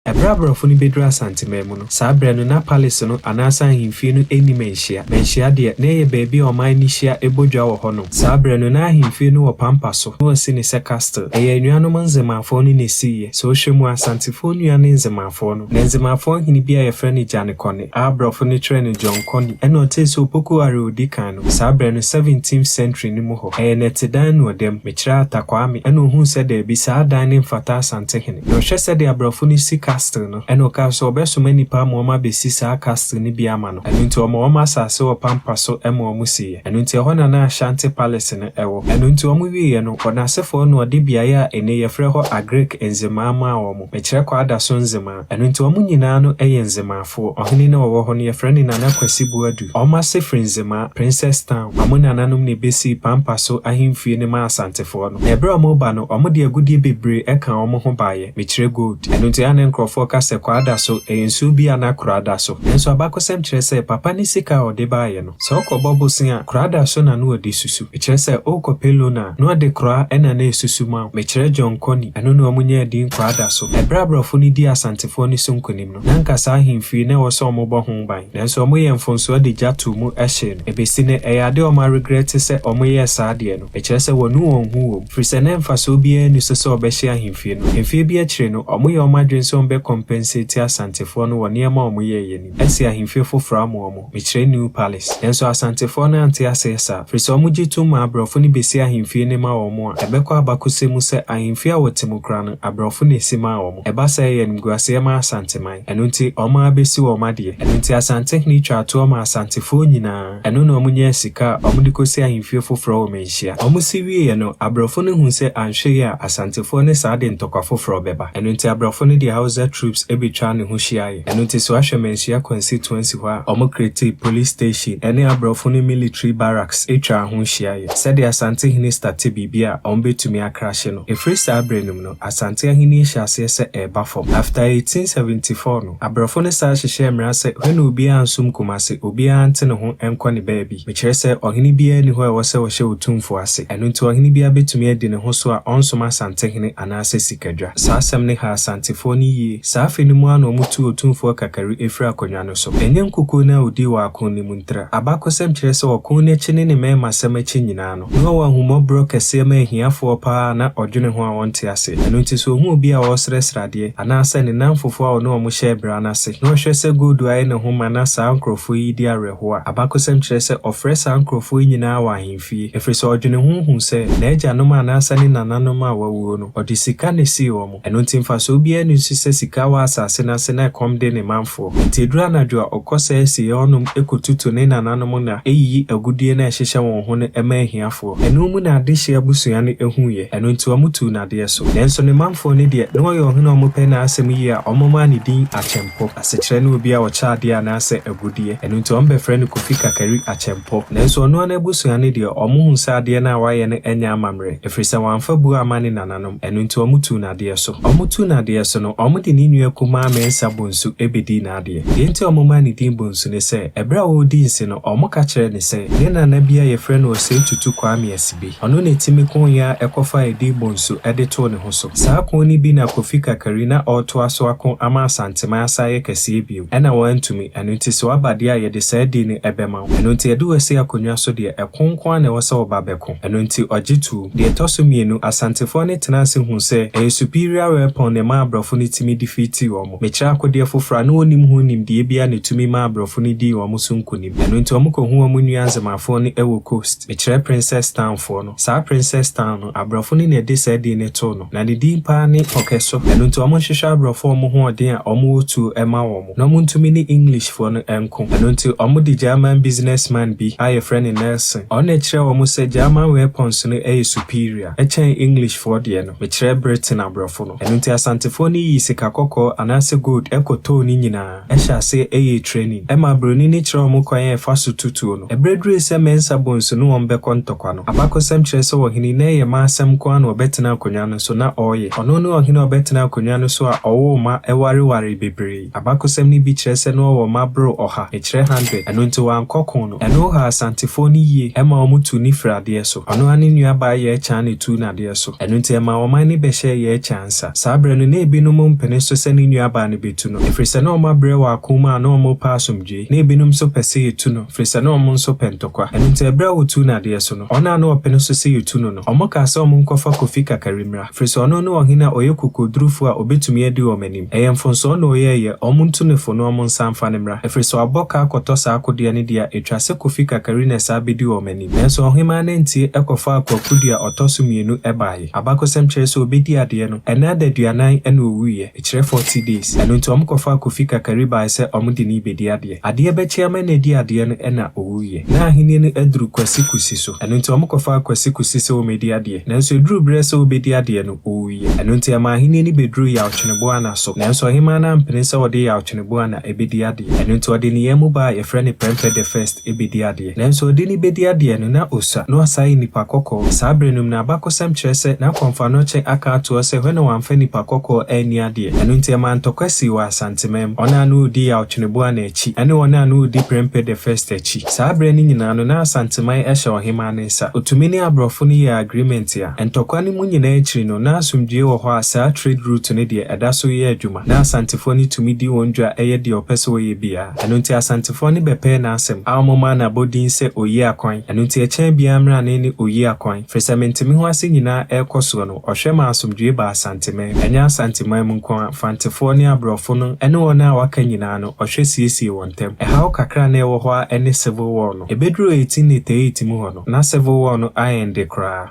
Ɛberɛ a aborɔfo no bɛduru Asanteman mu no, saa berɛ no na Palace no anaasɛ ahemfie no nni manhyia. Manhyia deɛ, na ɛyɛ baabi a ɔman no hyia bɔ dwa wɔ hɔnom. Saa berɛ no na ahemfie no wɔ pampa so, na wɔsi no sɛ castle. Ɛyɛ anuanom Nzemaafoɔ no na ɛsiiɛ. Sɛ wohwɛ mu a, Asantefoɔ nua ne Nzemaafoɔ no. Na Nzemaafoɔ hene bi a yɛfrɛ no Gyanekɔne. a brɔfo no kyerɛ no John Coney na ɔtsee sɛ Opoku Ware odzi kan no wɔ saa berɛ no 17th century no mu hɔ. Ɛyɛ nɛtse dan no ɔdam. Mekyerɛ Arthur Kwame na ohuu sɛ daabi saa adan no mfata Asantehene. Na ɔhwɛ sɛdeɛ abrɔfo no si castle no na ɔkaa sɛ ɔbɛsoma nnipa ama wɔn abɛsi saa castle no bi ama no. Ɛno nti ɔma wɔn asase wɔ pampa so ma wɔn siiɛ. Ɛno nti ɛhɔ na na Ashanti Palace no wɔ. Ɛno nti wɔn wieɛ no wɔn asefoɔ na ɔde beaeɛ a ene yɛfrɛ hɔ Agrick Nzemaa maa wɔn. Mekyerɛ Kwadaso Nzemaa. Ɛno nti wɔn nyinaa no yɛ Nzemaafoɔ. Ɔhene no a ɔwɔ hɔ no, wɔfrɛ no Nana Kwasi Boadu. Wɔn ase firi Nzemaa, Princess Town. Wɔn nananom na ɛbɛsii Pampa so ahemfie no maa Asantefoɔ no. Na ɛberɛ a wɔreba no, wɔde agudeɛ bebree kaa wɔn ho baeɛ, mekyerɛ gold. Ɛno nti a na nkorɔfoɔ ka sɛ Kwaa da so, ɛyɛ nsuo bi a na Koraa da so. Nanso abakɔsɛm kyerɛ sɛ Papa no sika a ɔde baeɛ no, Sɛ ɔkɔbɔ bosen a, kora da so na na ɔde susu. Ɛkyerɛ sɛ ɔɔkɔ Pelona a, na ɔde kora ɛna na ɛsusu ma wo. Mekyerɛ John Kony, ɛno na ɔmo nyɛɛ din kora da so. Ɛberɛ a aborɔfo no dii Asantefoɔ no so nkonim no, na anka saa ahemfie na ɛwɔ sɛ ɔmo bɔ ho ban. Nanso ɔmo yɛɛ mfomsoɔ de gya too mu hyee no. Ɛbɛsi nnɛ, ɛyɛ adeɛ a ɔmo aregrɛte sɛ ɔmo yɛɛ saa adeɛ no. Ɛkyerɛ sɛ wɔanu wɔn ho wɔ mu. Firi sɛ na mfasoɔ biara nni so sɛ ɔbɛhye ahemfie no. Mfeɛ bi akyire no, ɔmo yɛɛ ɔmo adwene sɛ ɔmo bɛ compensate Asantefoɔ no wɔ nneɛma a ɔmo yɛeɛ no mu. Asi ahemfie foforɔ ama wɔn, mekyerɛ New Palace. Nanso Asantefoɔ no ante aseɛ saa, firi sɛ wɔn gye tom ma abrɔfo no bɛsi ahemfie no ma wɔn a, ɛbɛkɔ abakɔsɛm mu sɛ ahemfie a wɔte mu koraa no, abrɔfo na ɛsi maa wɔn. Ɛba saa a ɛyɛ animguaseɛ ma Asanteman. Ɛno nti wɔn ara bɛsi wɔn adeɛ. Ɛno nti Asantehene twaa toɔ maa Asantefoɔ nyinaa. Ɛno na wɔnyaa sika a wɔde kɔsi ahemfie foforɔ wɔ Manhyia. Wɔsi wieeɛ no, abrɔfo no huu sɛ anhwɛyie a Asantefoɔ ne saa de ntɔkwa foforɔ bɛba. Ɛno nti abrɔfo no de Hausa troops bɛtwaa ne ho hyiaeɛ. Ɛno nti so ahwɛ Manhyia kwansitua si hɔ a wɔn createe police station ne abrɔfo no military barracks twaa ho hyiaeɛ sɛdeɛ Asante hene state biribi a wɔbɛtumi akrahye no. Ɛfiri saa berɛ no mu no, Asante ahenni hyɛ aseɛ sɛ ɛreba fam. After 1874 no, abrɔfo no san hyehyɛɛ mmara sɛ hwɛne obiara nsom Kumasi, obiara nte ne ho nkɔ ne baabi. Mekyerɛ sɛ ɔhene biara nni hɔ a ɛwɔ sɛ ɔhyɛ otumfoɔ ase. Ɛno nti ɔhene biara bɛtumi adi ne ho so a ɔnsom Asante hene anaasɛ sikadwa. Saa asɛm no haa Asantefoɔ no yie. Saa afe no mu ara na wɔtuu Otumfoɔ Kakari firi akonnwa no so. Ɛnyɛ nkukuo no a ɔdii wɔ ako no mu ntira. Abakɔsɛm kyerɛ sɛ ɔko no akyi ne ne mmarimasɛm akyi nyinaa no, Yehowa ahummɔborɔ kɛseɛ ma ahiafoɔ pa ara a na ɔdwene ho a wɔnte ase. Ɛno nti, sɛ ɔhu obi a ɔresrɛsrɛ adeɛ, anaasɛ ne nnamfofoɔ a ɔne wɔn hyɛɛ bra no ase, na ɔhwɛ sɛ gold ayɛ ne ho ma na saa nkurɔfoɔ yi di awerɛhoɔ a, abakɔsɛm kyerɛ sɛ ɔfrɛ saa nkurɔfoɔ yi nyinaa wɔ ahemfie, ɛfiri sɛ ɔdwene ho hu sɛ n'agyanom anaasɛ ne nananom a wɔawuo no, ɔde sika na ɛsii wɔn. Ɛno nti mfasoɔ biara nni so sɛ sika wɔ asase no ase na ɛkɔm de ne manfoɔ. Nti ɛduru anadwo a, ɔkɔ saa asieeɛ hɔ nom kɔtutu ne nananom nna, yiyi agudeɛ no a ɛhyehyɛ wɔn ho no ma ahiafoɔ. Ɛno mu na adehyeɛ abusua no huiɛ, ɛno nti wɔtuu no adeɛ so. Nanso ne manfoɔ no deɛ, na ɔyɛ ɔhene a wɔpɛ n'asɛm yie a wɔmaa no din Akyɛmpɔ. Asekyerɛ ne obi a ɔkyɛ adeɛ anaasɛ agudeɛ. Ɛno nti wɔbɛfrɛ no Kofi Kakari Akyɛmpɔ. Nanso ɔno ara n'abusua no deɛ, wɔhuu sɛ adeɛ no a wayɛ no nyɛ amammerɛ, ɛfiri sɛ wamfa buo amma ne nananom. anuanom. Ɛno nti wɔtuu no adeɛ so. Wɔtuu no adeɛ so no, wɔde ne nua kumaa Mensa Bonsu bɛdii n'adeɛ. Deɛ nti a wɔmaa no din Bonsu ne sɛ, ɛberɛ a ɔredi nse no, wɔka kyerɛɛ no sɛ, ne nana bi a yɛfrɛ no Osei Tutu Kwame Asibe, ɔno na ɛtumi koo yɛn a ɛkɔfaa edin Bonsu de too ne ho so. Saa koo no bi na Kofi Kakari na ɔretoa so ako ama Asanteman asan ayɛ kɛseɛ bio. Ɛna wɔantumi. Ɛno nti sɛ waba deɛ a, yɛde saa din no bɛma wo. Ɛno nti yɛde wo asi akonnwa so deɛ, ɛko nko ara na ɛwɔ sɛ woba bɛko. Ɛno nti ɔgye too. Deɛ ɛtɔ so mmienu, Asantefoɔ no tenaa ase huu sɛ ɛyɛ superior weapon na ɛma aborɔfo no tumi defeatii wɔn. Mekyerɛ akodeɛ foforɔ a na wɔnnim ho nimdeɛ biara na ɛtumi maa aborɔfo no dii wɔn so nkonim. Ɛno nti wɔkɔhuu wɔn nua Nzemafoɔ no wɔ coast. Mekyerɛ Princess Town foɔ no. Saa Princess Town no, aborɔfo no na ɛde saa din no too no. Na ne din paa ne Ɔkɛso. Ɛno nti wɔhwehwɛ aborɔfo a wɔn ho ɔden a wɔwɔ tuo ma wɔn, na wɔntumi ne Englishfoɔ no nko. Ɛno nti wɔde German business man bi a yɛfrɛ no Nelson, ɔno na ɛkyerɛɛ wɔn sɛ German weapons no yɛ superior kyɛn Englishfoɔ deɛ no, mekyerɛ Britain aborɔfo no. Ɛno nti Asantefoɔ no yii sika kɔkɔɔ anaasɛ gold kɔtɔɔ ne nyinaa. hyɛ aseɛ yɛɛ training. Ɛma broni no kyerɛɛ wɔn kwan a ɛfa so tu tuo no. Ɛberɛ durui sɛ Mensah Bonsu ne wɔn bɛkɔ ntɔkwa no, abakɔsɛm kyerɛ sɛ ɔhene na ɛyɛ mma asɛm nko ara na ɔbɛtena akonnwa no so na ɔreyɛ. Ɔno ne ɔhene a ɔbɛtena akonnwa no so a ɔwoo mma ɛwarewaree bebree. Abakɔsɛm no bi kyerɛ sɛ na ɔwɔ mma boro ɔha, mekyerɛ hundred. Ɛno nti wankɔ ko no. Ɛno ɔhaa Asantefoɔ no yie, ɛma wɔn tuu no firii adeɛ so. Ɔno ara ne nuabaa Yɛɛkyaa na ɛtuu no adeɛ so. yɛ so. Ɛno nti ɛmaa ɔman no bɛhyɛɛ yɛn kyɛ ansa. Saa berɛ no, na ebinom mpene so sɛ ne nuabaa no bɛtu no, ɛfiri sɛ na wɔabrɛ wɔ ako mu a na wɔrepɛ asomdwoeɛ. Na ebinom nso pɛ sɛ yɛtu no, ɛfiri sɛ na wɔn nso pɛ ntɔkwa. Ɛno nti ɛberɛ a wɔtuu no adeɛ so no, wɔn a na wɔpene so sɛ yɛtu no no, wɔkaa sɛ wɔnkɔfa Kofi Kakari mmra, ɛfiri sɛ ɔno ne ɔhene a ɔyɛ kokoɔdurufoɔ a ɔbɛtumi adi wɔn anim. Ɛyɛ mfomsoɔ na ɔyɛeɛ, wɔntu no fo na wɔnsan mfa no mmra, ɛfiri sɛ wabɔ ka akɔtɔ saa akodeɛ no deɛ a, ɛtwa sɛ Kofi Kakari na ɛsan bɛdi wɔn anim. Nanso ɔhemmaa no antie kɔfaa kwaku dua ɔtɔ so mmienu baeɛ. Abakɔsɛm kyerɛ sɛ ɔbɛdii adeɛ no, ɛnna ada aduanan na ɔwuiɛ, ɛkyerɛ forty days. Ɛno nti wɔkɔfaa Kofi Kakari baeɛ sɛ wɔde no rebɛdi adeɛ. Adeɛ bɛkye ama na ɛdii adeɛ no na ɔwuiɛ. Ná ahennie no aduru Kwasi Kusi so, ɛno nti wɔkɔfaa Kwasi Kusi sɛ wɔmmɛdi adeɛ. Nanso ɛduruu berɛ sɛ wɔbɛdi adeɛ no, ɔwuiɛ. Ɛno nti ɛmaa ahennie no bɛduruu Yawtwene Boana so. Nanso ɔhemmaa no ampene sɛ ɔde Yawtwene Boana bɛdi adeɛ. Ɛno nti ɔde ne yɛn mu baa a yɛfrɛ no Prempeh the First bɛdii adeɛ. Nanso ɔde no bedi adeɛ no, na ɔsua, na ɔsan yɛ nnipa kɔkɔɔ. Saa berɛ no mu na abakɔsɛm kyerɛ sɛ na Kɔmfanokyɛ aka atoɔ sɛ hɔ na wɔamfa nnipa kɔkɔɔ anni adeɛ. Ɛno nti ɛmaa ntɔkwa sii wɔ Asanteman mu. Wɔn a na wɔredi Yawtweneboa no akyi, ɛne wɔn a na wɔredi Prempeh the First akyi. Saa berɛ no nyinaa no, na Asanteman hyɛ ɔhemmaa no nsa. Ɔtumi ne aborɔfo no yɛɛ agreement a. Ntɔkwa no mu nyinaa akyiri no, na asomdwoeɛ wɔ hɔ a saa trade route no deɛ, ɛda so reyɛ adwuma. na Asantefoɔ no tumi di wɔn dwa yɛ deɛ ɔpɛ sɛ ɔyɛ biara. Ɛno nti Asantefoɔ no bɛpɛɛ n'asɛm a wɔmaa no abɔdin sɛ Oyiakwan. Ɛno nti ɛkyɛn biara mmerane ne Oyiakwan. Firi sɛ mentemeho ase nyinaa ɛrekɔ soɔ no, ɔhwɛ maa asomdwoeɛ baa Asanteman mu. Ɛnyɛ Asanteman mu nko ara, Fantefoɔ ne Aborɔfo no ne wɔn a wɔaka nyinaa no, ɔhwɛ siesiee wɔn ntam. Ɛhaw kakra a na ɛwɔ hɔ ara ne Civil War no. Ɛbɛduruu 1888 mu hɔ no, na Civil War no aɛnde koraa.